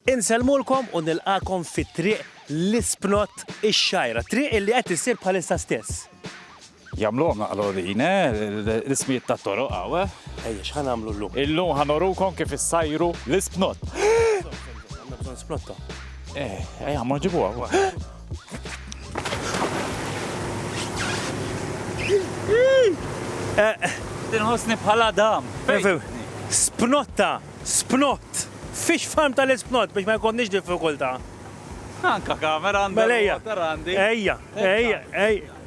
Insellmulkom u nilqagħkom fi Triq l-Ispnott ix-Xgħajra, triq illi qed issir bħalissa stess. Jagħmluhom naqra din, eh? L-ismijiet tat-toroq hawn, eh? Ejja, x'ħa nagħmlu llum? Illum ħa nurukom kif issajru l-ispnott. Għandna bżonn spnotta. Eh, ejja, mmorru ġibuha wkoll. Inħossni bħal Adam. Spnotta Spnott! Fish farm tal-ispnott biex ma jkollniex diffikultà. Anka kamera għandha. Mela ejja. Ejja, ejja, ejja.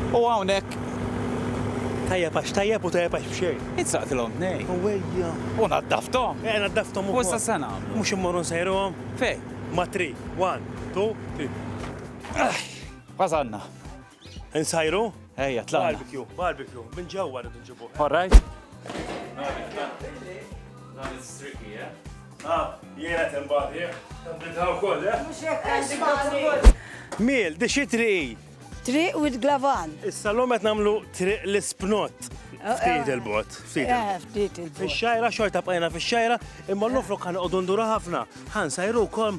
U hawnhekk tajjeb għax tajjeb u tajjeb għax bxej. Insaqtilhom nej. U wejja. U naddaftom. Eh, naddaftom u. Wissa sena. Mux immorru nsejruhom. Fej. Ma tri. One, two, three. Għazanna. Insajru? Ejja, tla. Barbecue, barbecue, minn ġewwa rridu nġibu. All right. Dan is tricky, eh? Ah, jiena tembati, eh? Tembita wkoll, eh? Mhux hekk għandi Miel, di xi triq? Triq with glavan. Issa l qed nagħmlu triq l-ispnot. Eh, eh. Ftit il-bot. Ftit eh, il-bot. Fix-xajra, xorta bqajna fix-xajra, imma l-ofrok kan qogħdu ndura ħafna. Ħan sajru kom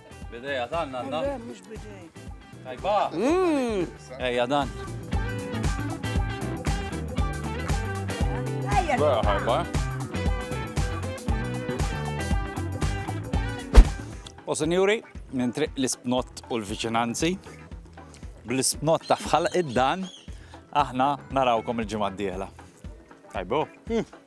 Bideja dan għandna. Le, mhux bidej. Tajba. Mm. Ejja dan. Ejja. Vera ħajba. Eh? U senjuri, minn triq l-isbnot u l-viċinanzi, bl-isbnot ta' fħal id-dan, aħna narawkom il-ġimgħa d-dieħla. Tajbo. Mm.